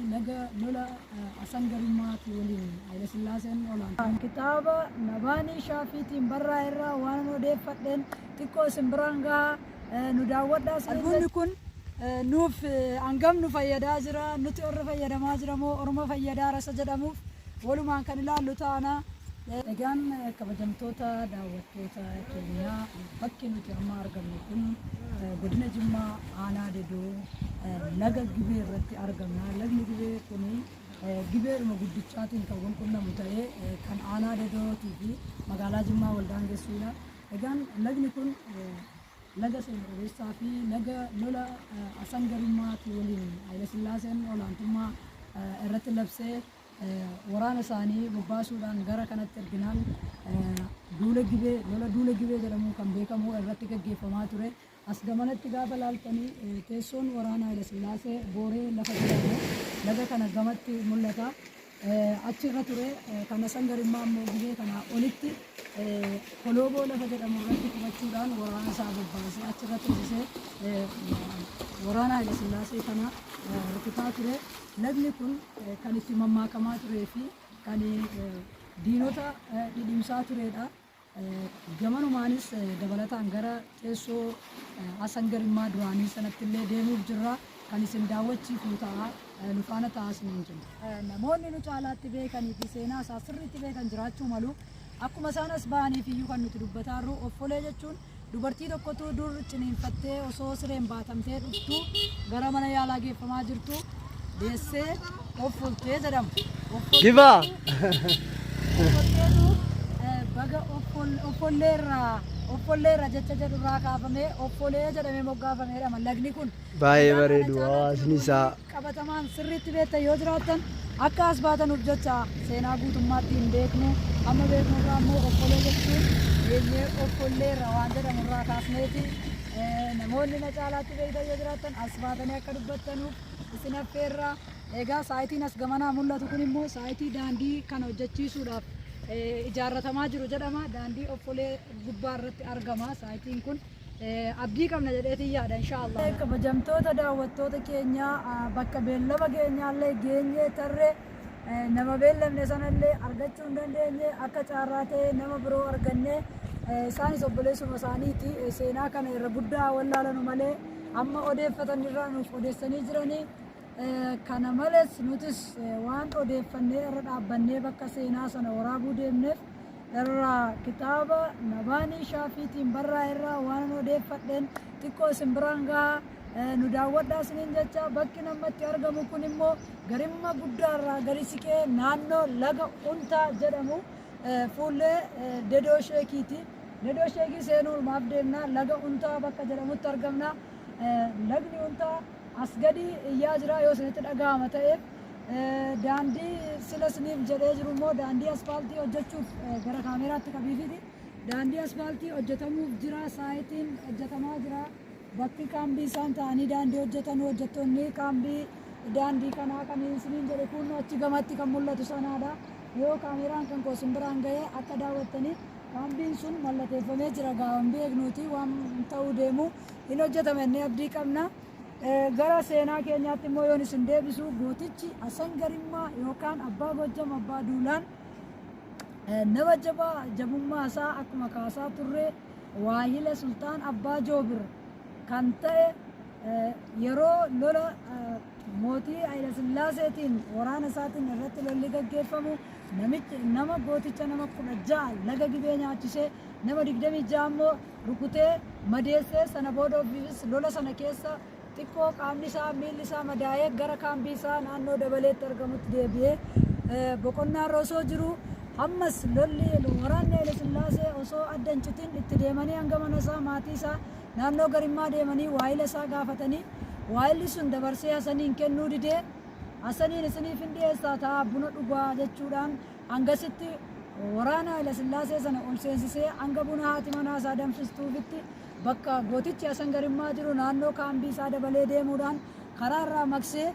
Laga lola Asan Garummaatii waliin Hayilasillaaseen olaantummaa. Kitaaba Nabaanii Shaafiitiin barraa'e irraa waanan odeeffadheen xiqqoo isin biraan gaha nu daawwadhaa isin Albumni kun nuuf hangam nu fayyadaa jira nuti orra fayyadamaa jira moo orma fayyadaa rasa jedhamuuf Walumaan kan ilaallu taana. Egaan kabajamtoota daawwattoota keenyaa bakki nuti amma argamnu kun godina Jimmaa aanaa Dedoo laga Gibee irratti argamna. Lagni Gibee kun Gibeedhuma guddichaatiin kan wal qunnamu ta'ee kan aanaa Dedootii fi magaalaa Jimmaa wal daangessuudha. Egaan lagni kun laga seena qabeessaa fi laga lola Asan Garummaati waliin Hayilasillaaseen olaantummaa irratti labsee waraana isaanii bobbaasuudhaan gara kanatti erginaan duula gibee lola duula gibee jedhamuun kan beekamu irratti gaggeeffamaa ture. As gamanatti gaafa laaltanii teessoon waraana Hayilasillaasee booree lafa jedhamu laga kana gamatti mul'ata. achi irra ture. Kana san garimmaa immoo gizee kanaa olitti Kolooboo lafa jedhamu irratti qubachuudhaan waraana isaa bobbaasee achi irra teessisee waraana Haile Sillaasee kana rukutaa ture. Lagni kun kan itti mammaakamaa turee fi kan diinota dhidhimsaa turedha. Gamanumaanis dabalataan gara teessoo Asan Garimmaa duraanii sanatti illee deemuuf jirra. Kan isin daawwachiifnu ta'a. Nu faana ta'aa isiniin jenna. Namoonni nu caalaatti beekanii fi seenaa isaa sirriitti beekan jiraachuu malu. Akkuma isaan as bahaniif iyyuu kan nuti dubbataarru offolee jechuun Dubartii tokkotu dur ciniinfattee osoo sireen baatamtee dhuftu gara mana yaalaa geeffamaa jirtu deessee offoltee jedhama. Gibaa! Offolteetu eh, baga offol- offolleerraa offolleerra jecha jedhurraa kaafamee offolee jedhamee moggaafameedhama lagni kun. Baay'ee Lagni kana bareedu caalatti hawaasni isaa. qabatamaan sirriitti beektan yoo jiraattan akka as baatanuuf jecha seenaa guutummaatti hin beeknu amma beeknu irraa immoo okkolee jechuun beenyee okkollee irra waan jedhamu irraa kaasneeti namoonni na caalaatti beektan yoo jiraattan as baatanii akka dubbattanuuf isin affeerra egaa saayitiin as gamanaa mul'atu kun immoo saayitii daandii kan hojjechiisuudhaaf ijaarratamaa jiru jedhama daandii okkolee gubbaa irratti argama saayitiin kun Abdii qabna jedheetiin yaada inshaa Allah. Kabajamtoota daawwattoota keenya bakka beellama keenyaallee geenyee tarre nama beellamne sanallee argachuu hin dandeenye akka caarraa ta'e nama biroo arganne isaanis obboleessuma isaaniiti seenaa kana irra guddaa wallaalanu malee amma odeeffatan irraa nuuf odeessanii jiranii kana malees nutis waan odeeffannee irra dhaabbannee bakka seenaa sana waraabuu deemneef irraa kitaaba Nabaanii Shaafiitiin barraa'e irraa waanan odeeffadheen xiqqoo isin biraan gaha Eh, nu daawwadhaa isiniin jecha bakki namatti argamu kun immoo garimma guddaa irraa gadi siqee naannoo laga untaa jedhamu eh, fuullee eh, dedoo sheekiiti. Dedoo sheekii seenuun maaf deemna laga untaa bakka jedhamutti argamna. Eh, Lagni untaa As gadi iyyaa jira yoo isinitti dhaga'ama ta'e. Daandii sila isiniif jedhee jiru immoo daandii aspaaltii hojjechuuf gara kaameeraatti qabiifiti. Daandii aspaaltii hojjetamuuf jira, saayitiin hojjetamaa jira. Bakki kaambii isaan ta'anii daandii hojjetan hojjettoonni kaambii daandii kanaa kan isiniin jedhe kun achi gamatti kan mul'atu sanaadha. Yoo kaameeraan kan koo isin biraan ga'ee akka daawwattaniif kaambiin sun mallateeffamee jira gaawwan beeknuuti waan ta'uu deemu. hin hojjetama jennee abdii qabna. Gara seenaa keenyaatti immoo yoon isin deebisu gootichi Hasan Garimmaa yookaan Abbaa Gojjam Abbaa Duulaan nama jabaa jabummaa isaa akkuma kaasaa turre waahila Sultaan Abbaa Joobir kan ta'e yeroo lola mootii Hayilesillaaseetiin waraana isaatiin irratti lolli gaggeeffamu namicha nama gooticha nama kudha ja'a laga gibee nyaachisee nama digdamii ja'a immoo rukutee madeesse, sana booda ofiifis lola sana keessa xiqqoo qaamni isaa, miilli isaa madaa'ee gara kaambii isaa naannoo Dabaleetti argamutti deebi'ee boqonnaarra osoo jiru ammas lolli waraanni Haile Sillaasee osoo adda hin citin itti deemanii hanga mana isaa maatii isaa naannoo Garimmaa deemanii waayila isaa gaafatanii waayilli sun dabarsee Hasaniin kennuu didee Hasaniin isiniif hin dhiyeessaa taa'aa buna dhugaa jechuudhaan Hangasitti waraana Haylasillaasee sana ol seensisee hanga buna haati manaa isaa danfistuufitti bakka gootichi Hasan Garimmaa jiru naannoo kaambii isaa dabalee deemuudhaan karaa irraa maqsee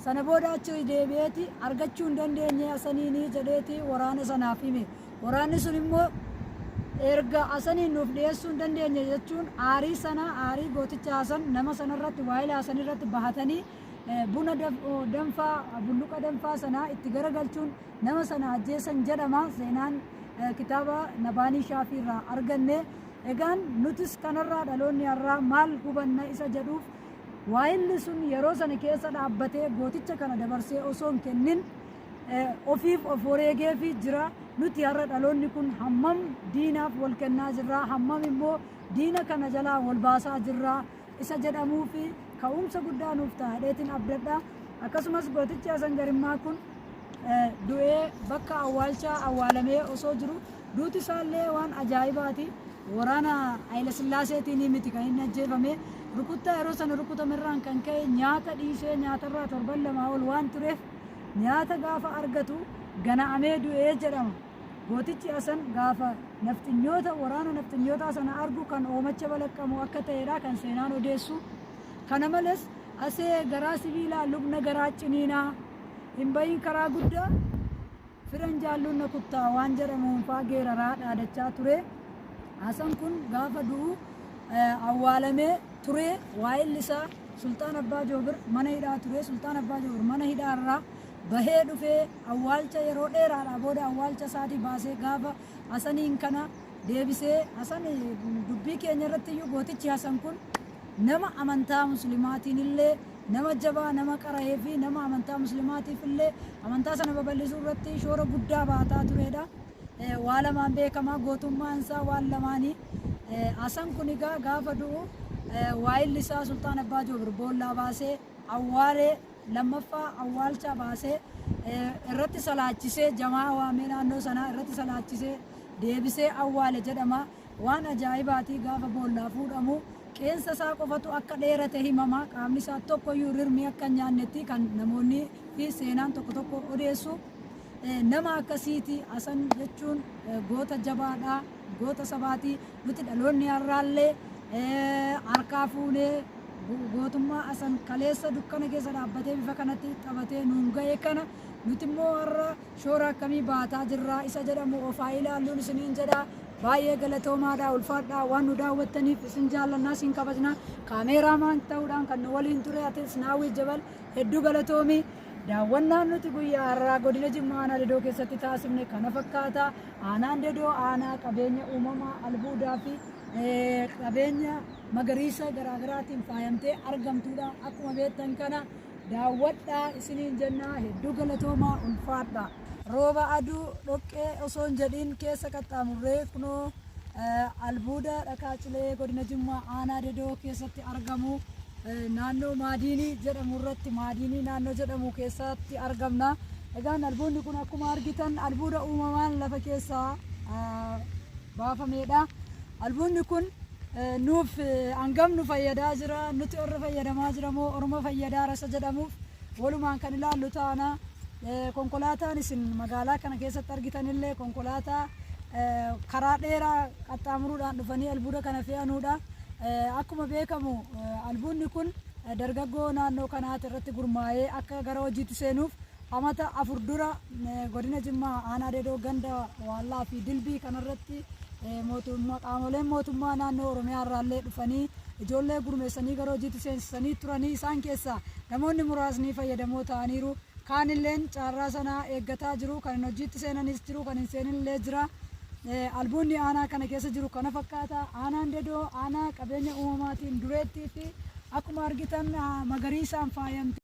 sana booda achi deebi'eeti argachuu hin dandeenye Hasaniini jedheeti waraana sanaaf hime. Waraanni sun immoo erga Hasaniin nuuf dhiyeessuu hin dandeenye jechuun aarii sana aarii gooticha Hasan nama sanarratti waa'ila Hasanirratti bahatanii buna danfaa bulluqa danfaa sanaa itti garagalchuun nama sana ajjeesan jedhama seenaan kitaaba nabaanii shaafii irraa arganne egaan nutis kanarraa dhaloonni har'aa maal hubanna isa jedhuuf waa'illi sun yeroo sana keessa dhaabbatee gooticha kana dabarsee osoo hin kennin ofiif of wareegeefi jira nuti har'a dhaloonni kun hammam diinaaf wal kennaa jirraa hammam immoo diina kana jalaa wal baasaa jirraa isa jedhamuu fi ka'umsa guddaa nuuf taa'adheetiin abdadha. Akkasumas gootichi Hasan Garimmaa kun du'ee bakka awwaalchaa awwaalamee osoo jiru duuti isaallee waan ajaa'ibaati. Waraana Hayila Sillaaseetiin miti kan inni ajjeefame. Rukuttaa yeroo sana rukutamerraan kan ka'e nyaata dhiisee nyaatarraa torban lamaa ol waan tureef nyaata gaafa argatu gana'amee du'ee jedhama. Gootichi Asan gaafa nafxinyoota waraana nafxinyootaa sana argu kan hoomacha balaqqamu akka ta'edha kan seenaan odeessu. Kana males Asee garaa sibiilaa lubna garaa ciniinaa hin bahiin karaa guddaa firan jaalluun na kuttaa waan jedhamuun faa geeraraa dhaadachaa ture. Asan kun gaafa du'u awwaalamee turee waa'illi isaa Sulxaan Abbaa Joobir mana hidhaa ture. Sulxaan Abbaa Joobir mana hidhaa irraa bahee dhufee Awwaalcha yeroo dheeraadhaa booda awwaalcha isaatii baasee gaafa Hasaniin kana deebisee Hasan dubbii keenya irratti iyyuu gootichi Hasan kun nama amantaa muslimaatiin illee nama jabaa nama qara'ee fi nama amantaa muslimaatiif illee amantaa sana babal'isuu irratti shoora guddaa baataa tureedha. Eh, Waa lamaan beekamaa gootummaan isaa waan lamaanii Eh, Hasan kun egaa gaafa du'u eh, waayilli isaa Sultaan Abbaa Joobir boollaa baasee awwaalee lammaffaa awwaalchaa baasee irratti salaachisee jamaa waamee naannoo sanaa irratti salaachisee deebisee awwaale jedhama. Waan ajaa'ibaati gaafa boollaa fuudhamu qeensa isaa qofatu akka dheerate himama. Qaamni isaa tokkoyyuu rirmii akka hin nyaannetti kan namoonni fi seenaan tokko tokko odeessu. Nama akkasiiti Hasan jechuun goota jabaadha. goota sabaati. Nuti dhaloonni har'aallee harkaa fuunee gootummaa asan kaleessa dukkana keessa dhaabbatee bifa kanatti taphatee nuun ga'e kana nuti immoo har'a shoora akkamii baataa jirra isa jedhamu of haa ilaalluun isiniin jedha. Baay'ee galatoomaadha ulfaadhaa waan nu daawwattaniif isin jaallannaa isin kabajna. Kaameeraamaan ta'uudhaan kan nu waliin ture Atileet Naawwii Jabal Hedduu galatoomi. Daawwannaan nuti guyyaa har'aa godina Jimmaa aanaa Dedoo keessatti taasifne kana fakkaata. Aanaan Dedoo aanaa qabeenya uumamaa albuudaa fi eh, qabeenya magariisa garaagaraatiin faayamtee argamtuudha. Akkuma beektan kana daawwadhaa isiniin jennaa hedduu galatoomaa ulfaadha. Rooba aduu dhoqqee osoo hin jedhin keessa qaxxaamurree kunoo Albuuda dhakaa cilee godina Jimmaa aanaa Dedoo keessatti argamu naannoo Maadiinii jedhamu irratti Maadiinii naannoo jedhamu keessatti argamna. Egaan albuudni kun akkuma argitan albuuda uumamaan lafa keessaa baafameedha. Albuudni kun nuuf hangam nu fayyadaa jira nuti warra fayyadamaa jira moo orma fayyadaara isa jedhamuuf Walumaan kan ilaallu taana. Konkolaataan isin magaalaa kana keessatti argitan illee konkolaataa karaa dheeraa qaxxaamuruudhaan dhufanii albuuda kana fe'anuudha. Akkuma beekamu albuudni kun dargaggoo naannoo kanaati irratti gurmaa'ee akka gara hojiitti seenuuf amata afur dura godina Jimmaa aanaa Dedoo ganda Waallaa fi Dilbii kanarratti mootummaa qaamoleen mootummaa naannoo Oromiyaa irraallee dhufanii ijoollee gurmeessanii gara hojiitti seensisanii turanii isaan keessaa namoonni muraasni fayyadamoo ta'aniiru. Kaanilleen caarraa sana eeggataa jiru. Kan hin hojiitti seenanis jiru, kan hin seenin illee jira. Albuudni aanaa kana keessa jiru kana fakkaata. Aanaan Dedoo aanaa qabeenya uumamaatiin dureettiiti. Akkuma argitan magariisaan faayamtee.